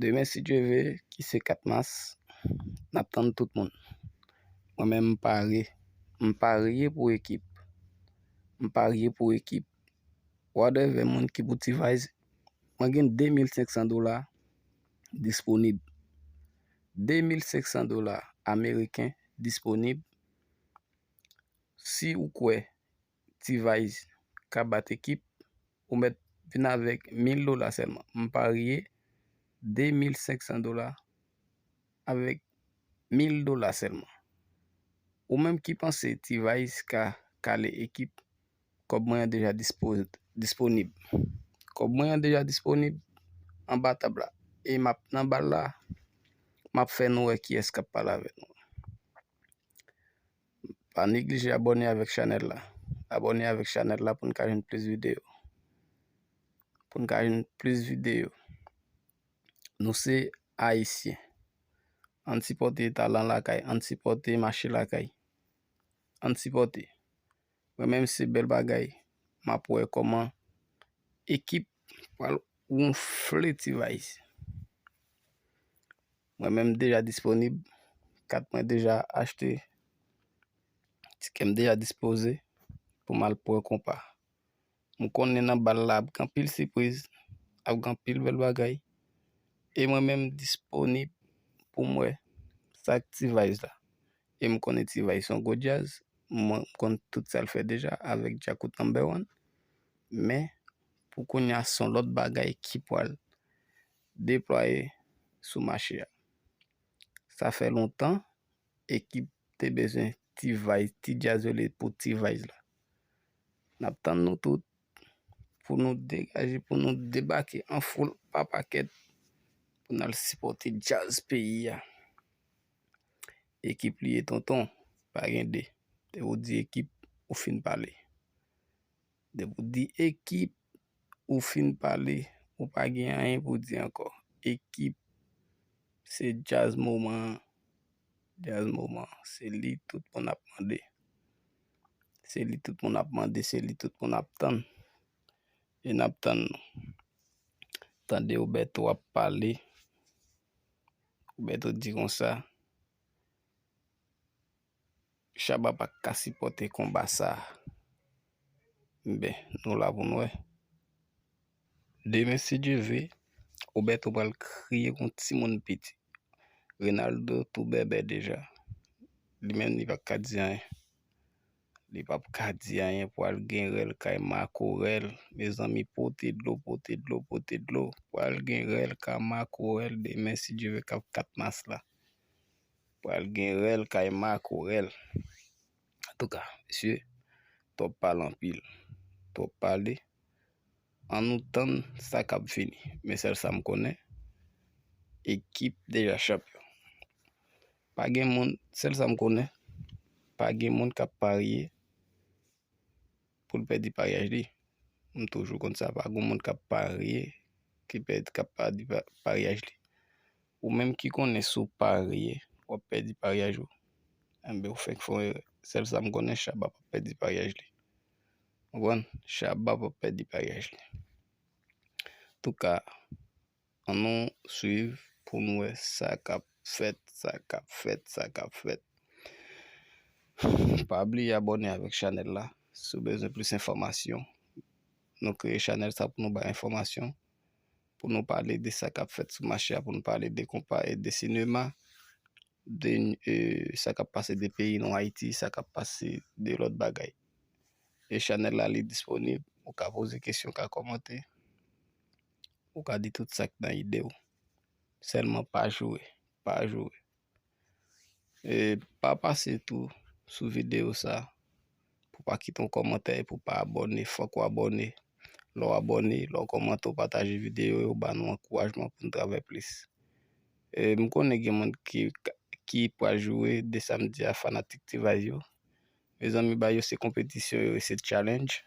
Demen si Dye ve ki se 4 mas nap tann tout moun. Mwen menm m pare, m parye pou ekip, m parye pou ekip. Whatever moun ki pou T-Vice, mwen gen 2500 dola disponib. 2500 dola ameriken disponib. Si ou kwè T-vice ka bat ekip ou mèt vin avèk 1000 dola sèlman m parye 2500 dola avèk 1000 dola sèlman ou menm ki panse T-vice ka kale ekip kòb mwen an deja disponib kòb mwen an deja disponib anba tab la e m ap nan bal la m ap fè nou wè kiyès k ap pale avèk mwen. Pa neglije abone avèk chanèl la. Abone avèk chanèl la pou n ka jwenn plis videyo. Pou n ka jwenn plis videyo. Nou se Ayisyen. An n sipòte talan lakay. An n sipòte mache lakay. An n sipòte. Mwen menm se bèl bagay. M ap wè kòman ekip pral wonfle T-Vice. Mwen menm m deja disponib. Kat mwen deja achte. Tikè m deja dispoze pou m al pran konpa. M konnen nan bal la ap gen anpil sipriz, ap gen anpil bèl bagay. E mwen menm m disponib pou m wè sa k T-vice la. E m konnen T-vice se yon gwo djaz. M konnen tout sa l fè deja avèk Djakout Number One. Men, pou kounya se yon lòt bagay ki pral. deplwaye sou mache a. Sa fè lontan ekip te bezwen T-Vice, ti djaz yo rele pou T-Vice la. N ap tann nou tout pou nou degaje, pou nou debake an foul pa pakèt pou n al sipòte djaz peyi a. Ekip li ye tonton, pa gen 2. Lè ou di ekip, ou fin pale. Depi w di ekip, ou fin pale, ou pa gen anyen pou di ankò. Ekip, se djaz moman an, djaz moman an. Se li tout moun ap mande, se li tout moun ap mande, se li tout moun ap tann. E n ap tann nou. Tande w Bèto ap pale, Bèto di konsa. Shabba pa ka sipòte konba sa. Ben nou la pou n wè. Demen si Dye ve, Roberto pral kriye kon timoun piti. Renaldo tou bèbè deja. Li menm li pa ka di anyen. Li pa p ka di anyen pou al gen rèl kay makorèl. Mezanmi pote dlo, pote dlo, pote dlo. Pral gen rèl ka makorèl demen si Dye ve kap 4 mas la. Pral gen rèl kay makorèl. Antouka, mesye, twòp pale anpil. Twòp pale, an nou tann sa k ap vini. Men sèl sa m konnen, ekip deja chanpyon. Pa gen moun, sèl sa m konnen, pa gen moun k ap parye. poul pèdi paryaj li m toujou konn sa pa gon moun kap parye ki pèdi kap pèdi paryaj li ou menm ki konnen sou parye wap pèdi paryaj ou enben ou fenk fon erè sèl sam konnen shabba pap pèdi paryaj li ou konn shabba pap pèdi paryaj li touka An nou swiv pou nou wè sa kap fèt sa kap fèt sa kap fèt pa bliye abòne avèk chanèl la si w bezwen plis enfòmasyon nou kreye chanèl sa pou nou bay enfòmasyon pou nou pale de sa kap fèt sou mache a pou nou pale de konpa e de sinema de sa kap pase de peyi nou ayiti sa kap pase de lòt bagay e chanèl la li disponib ou ka poze kesyon ou ka kòmante Ou ka di tout sak nan idew. Selman pa joure. Pa joure. E pa pase tou sou video sa. Pou pa kite yon komante e pou pa abone. Fok ou abone. Lo ou abone, lo ou komante ou pataje video yo ba nou ankourajman pou nou travay plis. E m konnen gen moun ki pa joure de sam di a fanatik T-vice yo. Mezanmi ba yo se kompetisyon yo e se challenge.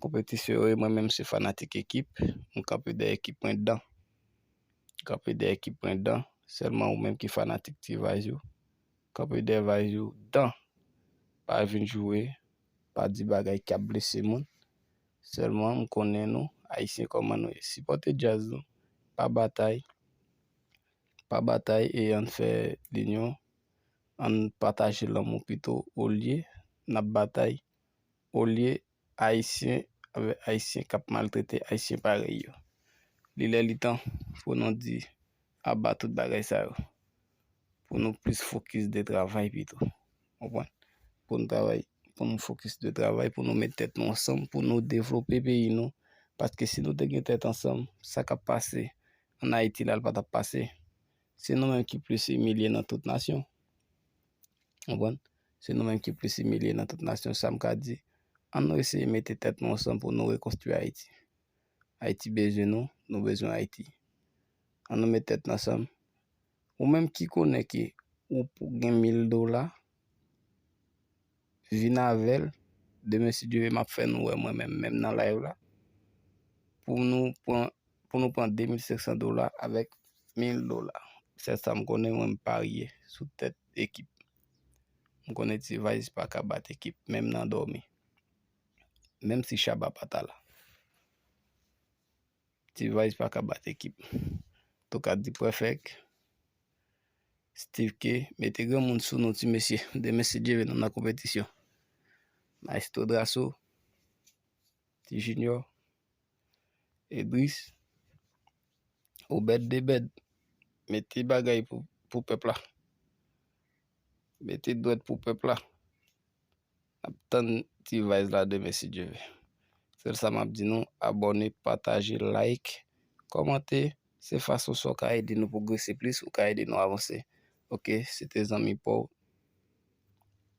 Konpetisyon yo e mwen menm se fanatik ekip, m kanpe dèyè ekip mwen dan. Kanpe dèyè ekip mwen dan, sèlman ou menm ki fanatik T-Vice yo, kanpe dèyè Vice yo dan. Pa vin joure, pa di bagay ki ap blese moun, sèlman m konnen nou, Ayisyen kòman nou ye. Sipòte djaz nou, pa batay, pa batay e ann fè linyon, ann pataje lanmou pito olye n ap batay olye Ayisyen avè Ayisyen k ap maltrete Ayisyen parèy yo. Li lè li tan pou nou di aba tout bagay sa yo, pou nou plis fokis de travay pito. Konprann? Pou nou travay, pou nou fokis de travay, pou nou met tèt nou ansanm, pou nou devlope peyi nou. Paske si nou te gen tèt ansanm, sa k ap pase an Ayiti la, l pa t ap pase. Se nou menm ki plis imilye nan tout nasyon. Konprann? Se nou menm ki plis imilye nan tout nasyon sa m ka di. An nou eseye mete tèt nou ansanm pou nou rekonstwi Ayiti. Ayiti bezwen nou, nou bezwen Ayiti. An nou met tèt n ansanm. Ou menm ki konnen ke ou gen mil dola, vin avèl demen si Dye ve map fè nou wè mwen menm menm nan live la pou nou pran pou nou pran 2500 dola avèk 1000 dola sèl sa m konnen mwen m parye sou tèt ekip m konnen ti vayz pa ka bat ekip menm nan dòmi menm si chaba pa ta la. T-vice pa ka bat ekip. Tokar di prefèk. Steve Khe, mete granmoun sou nou ti mesye. Demen si Dye vle nou nan konpetisyon. Maestro Drasso. Ti Junior. Edris. Obed Debed. Mete bagay pou pèp la. Mete dwèt pou pèp la. Nap tann ti vice la demen si Dye ve. Sèl sa map di nou abòne, pataje, like, kòmante se fason sa w ka ede nou pwogrese plis, ou ka ede nou avanse ok se te zanmi paw.